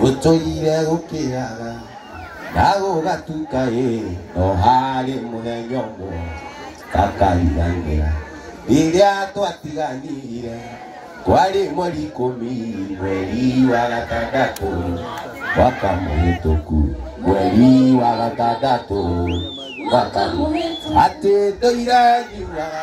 gũtũire gũkĩaga na gũgatuka ĩ no harĩ mũthenya ũmwe kakariganĩra rĩrĩa twatiganire kwarĩ mweri ikũmi mweri wa gatandatũ mwaka mũhĩtũku mweri wa gatandatũ mwaka mũhĩtũku atĩ ndũire ngiugaga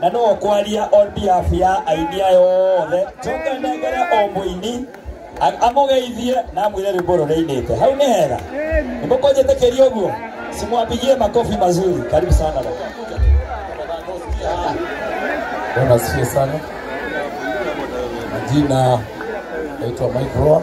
na no kwaria on behalf ya aini aya othe coka nengere o mũini a- amũgeithie na amwĩre rwĩmbo rũrĩa ainĩte hau nĩ hega nĩmũkũnjĩtĩkĩria ũguo simwapigie makofi mazuri karibu sana baba. Bwana asifiwe sana. Majina naitwa Mike Roa,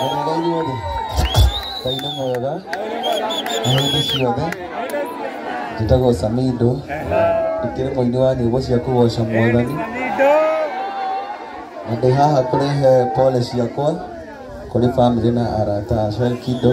Wega inyuothe ngai nĩ mwega na hĩndĩ ciothe njĩtagwo samindo ndikĩrĩ mũini wa nyĩmbo cia kũgoca mwathani na ndĩ haha kũrehe pole ciakwa kũrĩ bamĩrĩ na arata a Shalkido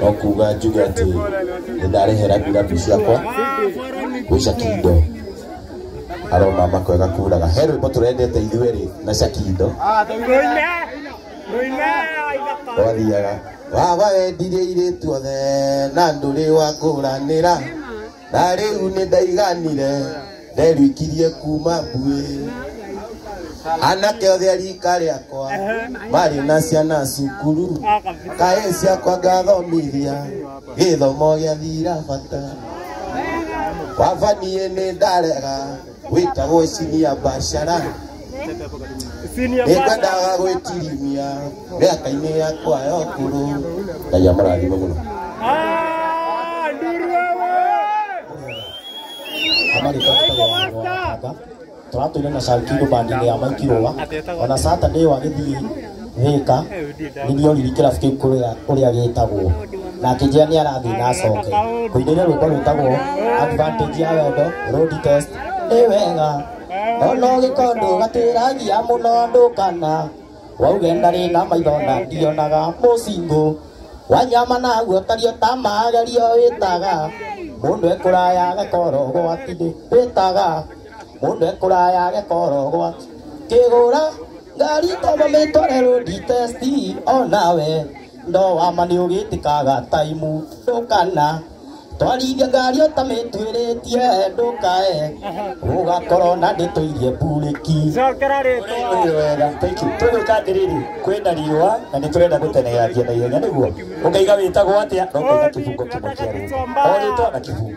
no kuga njuge atĩ nĩ ndarĩhera mbiratu ciakwa gwĩ cakindo aroma makwega kuraga he rwĩmbo tũrendete ithuĩ rĩ na cakindo wathiaga waba wendirie irĩtu othe na ndũrĩ wa ngũranĩra na rĩu nĩ ndaiganire nderwikirie kuma mbuĩ anake othe a rika rĩakwa marĩ na ciana cukuru kaĩ ciakwa ngathomithia gĩthomo gĩa thira bata baba niĩ nĩ ndarega wĩtagwo cinia mbacara nĩkwendaga gwĩtirimia mĩaka-inĩ yakwa ya ũkũrũ ngai amũrathime mũno tũratũire na shankindo bandinĩ ya maikirũa ona saturday wagĩthiĩ thika nithio riri kirabu kiu kuria uria gitagwo na akĩnjĩra nĩ arathiĩ na acoke kũinĩria rwĩmbo rwĩtagwo advantage ya wendo road test nĩ wega ona ũgĩkondũ gatwĩragia mũno andũ kana wauge ndarĩ na maitho na ndionaga mũcingũ wanyama naguo tario ta magerio wĩtaga mũndũ ekũraya gakoro gwatindĩ wĩtaga mũndũ ekũraya gakoro gwa kĩgũra Ngari toma mĩtorero nditesti onawe no wama nĩ ũgĩtĩkaga taimu ndũkana twarithia ngari ũtamĩtuĩrĩtie ndũkae ũgakorwo na ndĩtũirie mburĩki Cokera rĩtwa. Nĩ wega thank you tũgwĩka atĩrĩrĩ kwĩna riũa na nĩ tũrenda gũteng'era njia na ihenya nĩguo ũkaiga wĩtagwo atĩa no ũkaiga kĩbungo kĩmwe kĩa rĩtwa o rĩtwa na kĩbungo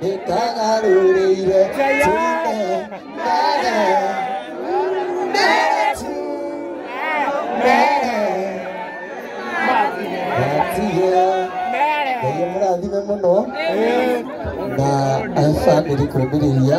nĩtagarũrĩire Ngai mũrathime mũno na family kwĩmĩrĩria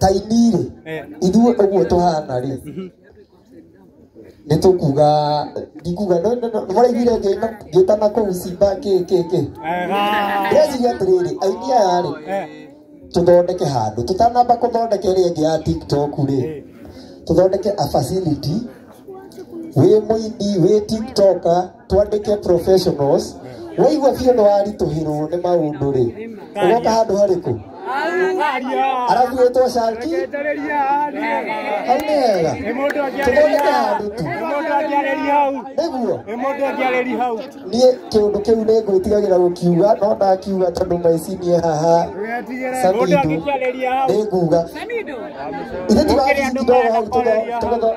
taini rĩ Eh. ithuĩ ũguo tũhana rĩ nĩ tũkuga ndikuga maraiguire ngĩtana kũu simba kĩ kĩ kĩ Wega. ndĩreciria atĩrĩrĩ aini aya rĩ Eh. tũthondeke handũ tũtanamba kũthondeka ĩrĩa ĩngĩ ya tiktok rĩ Eh. tũthondeke a facility wĩ mũini wĩ tiktoker twandĩke professionals waigua biũ nĩ waritũhĩrwo nĩ maũndũ rĩ ũgoka handũ harĩkũ arabu wĩtwo sharki hau nĩ hega tũthondeke handũ tu nĩguo niĩ kĩũndũ kĩu nĩ ngwĩtigagĩra gũkiuga no ndakiuga tondũ mecinie haha samido nĩ nguga ithe tiga ndogo hau tũtho- tũgĩtho-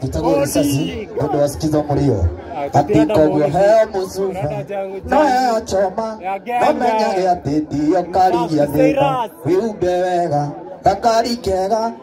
Tutagwo risasi nĩũndũ wa sikizo mũrio atĩ koguo heo mũcuba no heo choma no menyage atĩ ndiyo karigia thĩna wĩhumbe wega gakari kega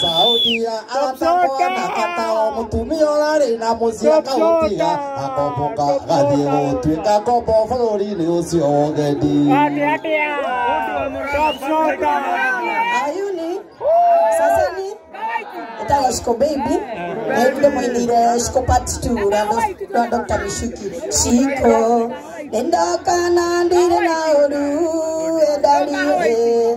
Saudia aratakwa na atao mutumia urari na muciĩ akaũtiga akomboka gathiĩ gũtuĩka ngombo bũrũri-inĩ ũcio wa ũgendi ayuni saseni ĩtagwo shiko baby na ĩrĩ nĩ mũinĩire shiko part 2 rwa Doc- rwa dr mishuki shiko nĩndoka na ndire na ũru endariĩ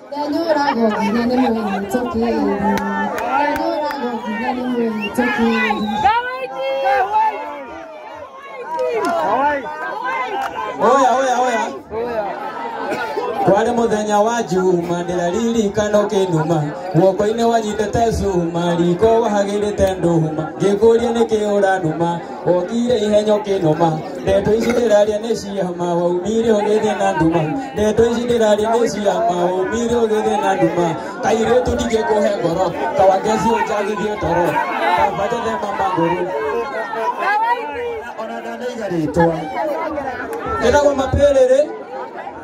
Oya, oya, oya. Kwari muthenya wa juma ndiraririkano kinuma guoko-inĩ wanyitĩte cuma riko wahagĩrĩte nduma ngĩkũria nĩkĩ ũranuma Wokire ihenyo kinuma ndeto ici ndiraria ni ciama waumire ugithie na nduma ndeto ici ndiraria ni ciama waumire ugithie na nduma kairitu ndingikuhe ngoro kawangeci unjagithie toro kambatethema maguru ona ndanaiga ritwa njĩtagwo mapĩrĩrĩ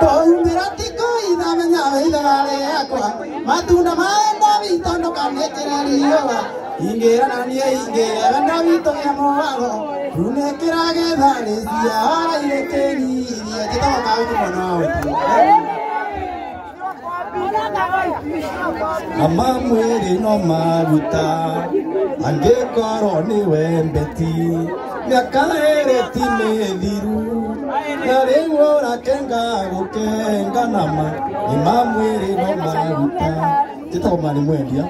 Twaumĩra ti kũitha menya wĩithaga rĩakwa matunda maenda witũ ndũkanĩkĩre riũa ingĩra na niĩ ingĩre wenda witũ ya mũwago tunĩkĩra getha rĩcia waraire kĩririe njĩtoka ũguo mwana wa ũtuo Ama mwĩrĩ no maruta angĩkorwo nĩ wembeti mĩaka ĩrĩ ti mĩthiru na rĩu ũrakenga gũkenga nama ima mwĩrĩ no maruta njĩtagwo mani mwendia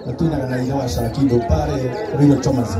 natuinaga na ihe wa caki ndũpare rĩo tomasi